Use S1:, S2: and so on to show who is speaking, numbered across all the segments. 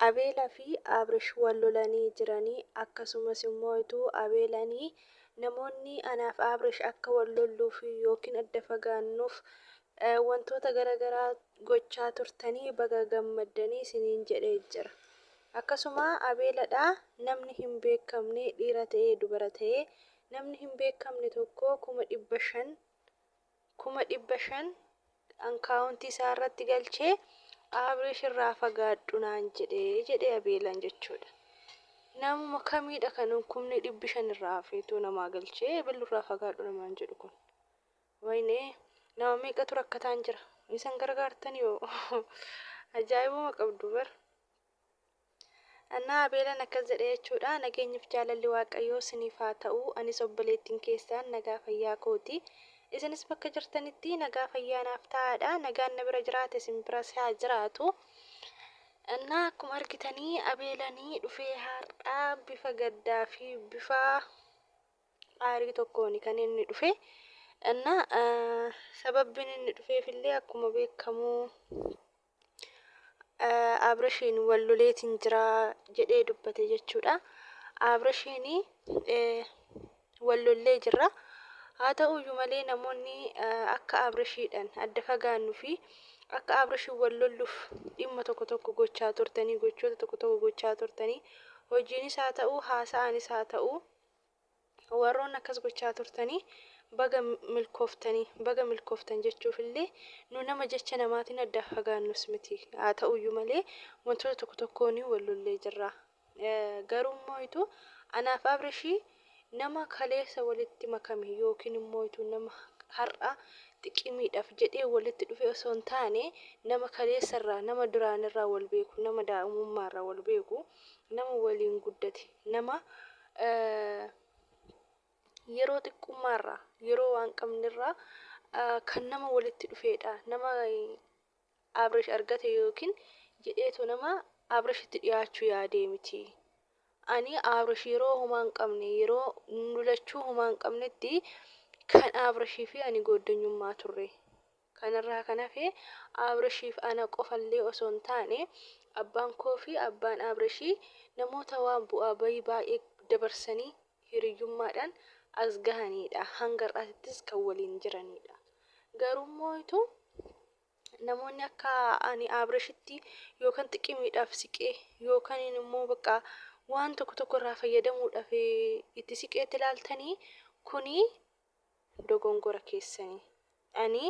S1: Abela fi abrish wal lolani jirani akkasumas immoo ituu abelani namoonni anaaf abrish akka wal lolluu fi yookiin adda fagaannuf wantoota gara garaa gochaa turtani baga gammaddani isiniin jedhe jira akkasuma abela dha namni hin beekamne dhiira ta'ee dubara ta'ee namni hin beekamne tokko 500,000 kuma dhibba shan ankaawuntii isaa irratti galchee Abrish irraa fagaadhu naan jedhe jedhe Abeelaan jechuudha. Namuma kamiidha kan kumni dhibbi shan irraa hafeetu namaa galchee Abeelu irraa fagaadhu namaan jedhu kun. Waynee nama meeqatu rakkataan jira. Isan gargaartan yoo ajaa'ibuma qabdu bar. Anna Abeelan akkas jedhe jechuudha, Nageenyif jaalalli Waaqayyoo siniif haa ta'u, anis obboleettin keessaan nagaa fayyaa kooti. Isinis bakka jirtanitti nagaa fayyaa naaf ta'aadha. Nagaan na bira jiraate isin biras haa jiraatu. Anna akkuma argitanii Abeelanii dhufee har'a bifa gaddaa fi bifa aarii tokkooni kan inni dhufe. Anna sababbiin inni dhufeef illee akkuma beekamu Abrashiin wal loleetiin jira jedhee dubbate jechuudha. Abrashiin wal lollee jirra. Haa ta'uyyuu malee namoonni akka Abrashiidhaan adda fagaannu fi akka Abrashiin wal lolluuf dhimma tokko tokko gochaa turtanii gochoota tokko tokko gochaa turtanii hojiinis haa ta'u haasa'aanis haa ta'u Warroonni akkas gochaa turtanii baga milkooftanii, baga milkooftan jechuuf illee nu nama jecha namaatiin addaa fagaannus miti. Haa ta'u iyyuu malee wantoota tokko tokkoon wal lollee jirra. Garuu immoo itu anaaf Abrishi nama kaleessa walitti makame yookiin immoo itu nama har'a xiqimiidhaaf jedhee walitti dhufe osoo hin taane nama kaleessa irraa, nama duraan irraa wal beeku, nama daa'imummaa irraa wal beeku, nama waliin guddate. nama yeroo xiqqummaa irraa, yeroo waan qabne irraa kan nama walitti dhufeedha. Nama Abrish argate yookiin jedheetu nama Abrishitti dhiyaachuu yaadee miti. Ani Abrish yeroo homaa hin qabne, yeroo nu lachuu homaa hin qabnetti kan Abrishii fi ani gooddanyummaa turre. Kanarraa kan hafe Abrishiif ana qofallee osoo hin taane abbaan koo fi abbaan Abrishii namoota waan bu'aa ba'ii baay'ee dabarsanii hiriyyummaadhaan as gahaniidha. Hanga har'aatittis kan waliin jiraniidha. Garuummoo ituu namoonni akka ani Abrishitti yookaan xiqimiidhaaf siqee yookaan immoo bakka waan tokko tokko irraa fayyadamuudhaaf itti siqeetti ilaaltanii kuni dogongora keessani. Ani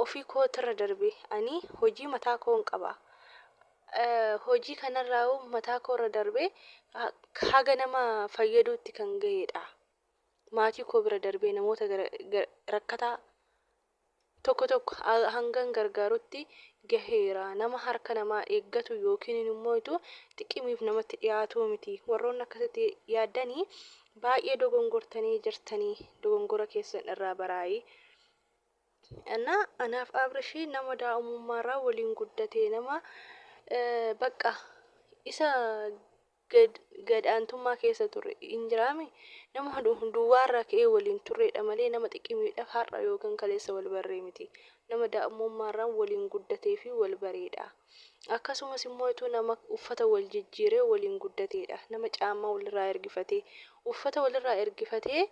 S1: ofii kootirra darbee ani hojii mataa koon qaba. Hojii kanarraa'uu mataa koorra darbee haga nama fayyaduutti kan gaheedha. Maatii koo bira darbee namoota rakkataa tokko tokko hangan gargaarutti gaheera. Nama harka namaa eeggatu yookiin immoo itu xiqimiif namatti dhiyaatuu miti. Warroonni akkasitti yaaddanii baay'ee dogongortanii jirtanii dogongora keessan irraa baraayii. Anna anaaf Abrishii nama daa'umummaarraa waliin guddate nama baqqa isa gad gad aantummaa keessa turre hin jiraami nama duwwaa irraa ka'ee waliin turreedha malee nama xiqimiidhaaf har'a yookan kaleessa wal barree miti nama daa'mummaa irraan waliin guddatee fi wal bareedha akkasumas immoo ituu nama uffata wal jijjiiree waliin guddateedha nama caammaa wal irraa ergifatee uffata wal irraa ergifatee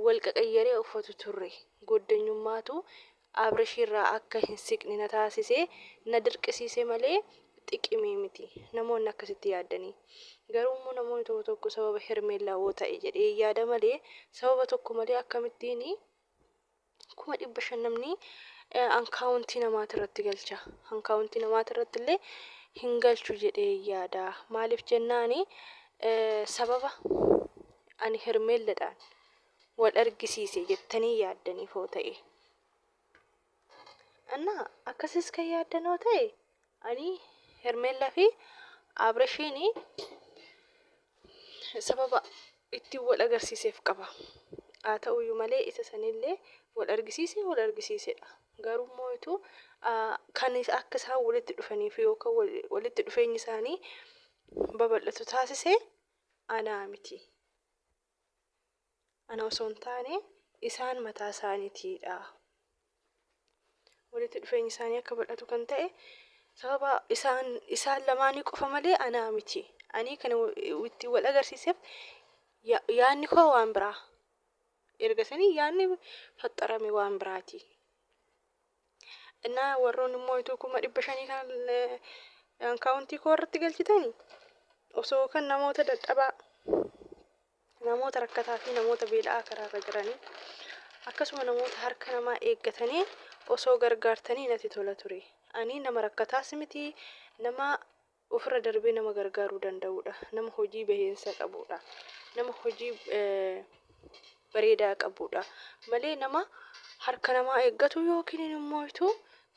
S1: wal qaqayyaree uffatu turre. Goddanyummaatu Abrashirraa akka hin siqne na taasise, na dirqisiise malee xiqimii miti. Namoonni akkasitti yaaddanii. Garuummoo namoonni tokko tokko sababa Hermeellaawoo ta'e jedhee yaada malee sababa tokko malee akkamittiin kuma dhibba shan namni ankaawuntii namaati irratti galcha ankaawuntii namaati irratti illee hin galchu jedhee yaada maaliif jennaani sababa ani hermeelladhaan wal argisiise jettanii yaaddaniif hoo ta'e annaa akkasis kan yaaddanoo ta'e Ani hermella fi abreshiin sababa itti wal agarsiiseef qaba haa ta'uyyuu malee isa sanillee wal argisiise wal argisiisedha garuu immoo itu kan akka isaan walitti dhufanii fi yookaan walitti dhufeenyi isaanii babal'atu taasise anaa miti. Ana osoo hin taane isaan mataa isaaniitii dha. Walitti dhufeenyi isaanii akka bal'atu kan ta'e sababa isaan isaan lamaanii qofa malee anaa miti. Ani kan itti wal agarsiiseef yaadni koo waan biraa. Erga sanii yaadni faxxarame waan biraati. Innaa warroon immoo ituu kuma dhibba shanii kan akkaawuntii koo irratti galchitani osoo kan namoota dadhabaa namoota rakkataa fi namoota beela'aa karaarra jiranii akkasuma namoota harka namaa eeggatanii osoo gargaartanii natti tola ture. Ani nama rakkataas miti nama ofirra darbee nama gargaaruu danda'uudha. Nama hojii bahiinsa qabuudha. Nama hojii bareedaa qabuudha. Malee nama harka namaa eeggatu yookiin immoo ituu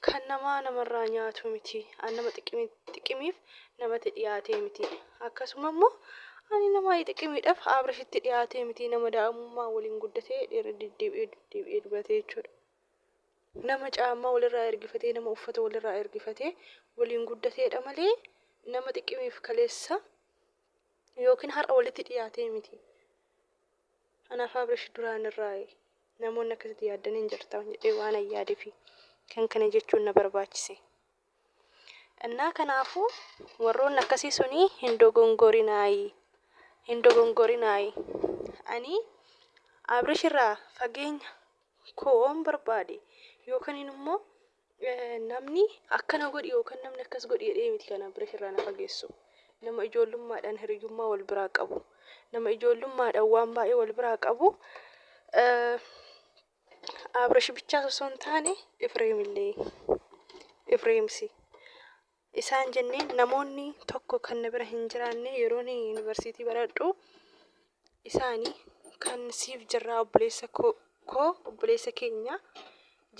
S1: kan namaa namarraa nyaatu miti. An nama xiqimiif namatti dhiyaatee miti. Akkasuma immoo ani nama xiqimiidhaaf Abrashitti dhiyaatee miti. Nama daa'imummaa waliin guddatee irra deddeebi'ee deddeebi'ee dubatee jechuudha. Nama caammaa walirraa ergifatee, nama uffata walirraa ergifatee waliin guddateedha malee nama xiqqimiif kaleessa yookiin har'a walitti dhiyaatee miti. Anaaf Abrish duraan irraa namoonni akkasitti yaaddaniin jirtan jedhee waan ayyaadeefi kan kana jechuun na barbaachise. Innaa kanaafuu warroonni akkasii sunii hin dogongorinaayii. Hin dogongorinaayii. Ani Abrish irraa fageenya koo waan barbaade yookaan immoo namni akkana godhi yookaan namni akkas godhi jedhee miti kan Abrish irraa na fageessu. Nama ijoollummaadhaan hiriyummaa wal biraa qabu. Nama ijoollummaadhaan waan baay'ee wal biraa qabu. Abrish bichaas osoo hin taane Ifreem illee Ifreemsi isaan jennee namoonni tokko kan na bira hin jiraanne yeroon yuunivarsiitii baradhu isaani kan siif jirraa obboleessa koo obboleessa keenya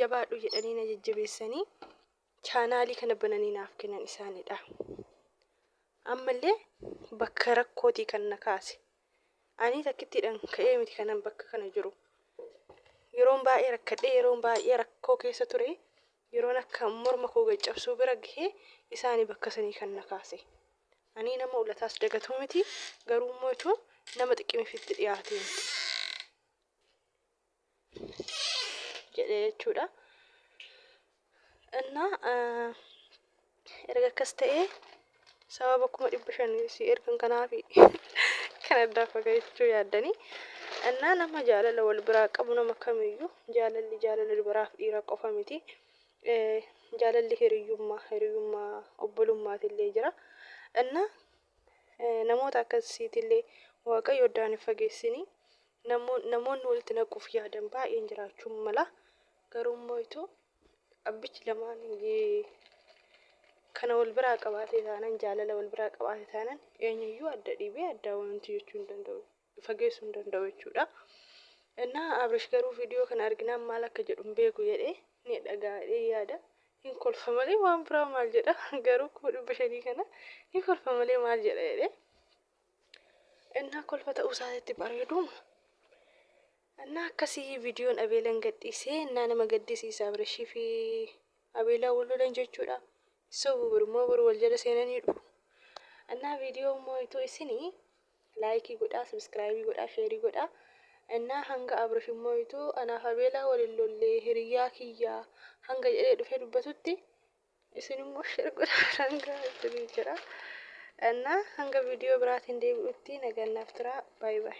S1: jabaadhu jedhanii na jajjabeessanii chaanaalii kana bananii naaf kennan isaanidha. Ammallee bakka rakkootii kan na kaase. Ani takkittiidhaan ka'ee miti kanan bakka kana jiru. Yeroon baay'ee rakkadhee yeroon baay'ee rakkoo keessa ture yeroon akka morma koo gaccabsuu bira gahee isaani bakka sanii kan na kaase. Ani nama ulataas dagatuu miti garuu immoo jechuun nama xiqqimifitti dhiyaatee miti. jedhe jechuudha. እና erga akkas ta'ee sababa kuma dhibba shan si ergan kanaaf kan addaa fagaachuu yaaddanii innaa nama jaalala wal biraa qabu nama kamiyyuu jaalalli jaalala dubaraaf dhiira qofa miti Eh, jaalalli hiriyyummaa hiriyyummaa obbolummaatiillee jira innaa eh, namoota akkasiitillee waaqayyo addaan hin fageessinii Namoonni walitti naquuf yaadan baay'een jiraachuu mala. Garuu immoo itoo abbichi lamaan kana wal biraa qabaatee taanan jaalala wal biraa qabaatee taanan eenyuyyuu adda dhiibee addaa wanti jechuu hin danda'u fageessuu hin danda'u jechuudha. Innaa Abrish garuu viidiyoo kana arginaan maal akka jedhu hin beeku jedhee ni dhaga'a jedhee yaada. Hin kolfa malee waan biraa maal jedha garuu kuma dhibba shanii kana ni kolfa malee maal jedha jedhee. Innaa kolfa ta'uu isaatitti bareeduuma. Innaa akkasii viidiyoon Abeelan gadhiisee innaa nama gaddisiisa Abirashii fi Abeelaa wal lolan jechuudha. Sobu birmoo boru wal jala seenanii dhufu. Innaa viidiyoo immoo ituu isinii laayikii godhaa, sabiskiraayibii godhaa, sheerii godhaa. Innaa hanga Abirish immoo ituu anaaf Abeelaa wal hin lollee hiriyyaa kiyyaa hanga jedhee dhufee dubbatutti isin immoo share godhaa biraan gahaa isiniin jedha. Annaa hanga viidiyoo biraatiin deebi'utti nagaan naaf turaa. Baay baay.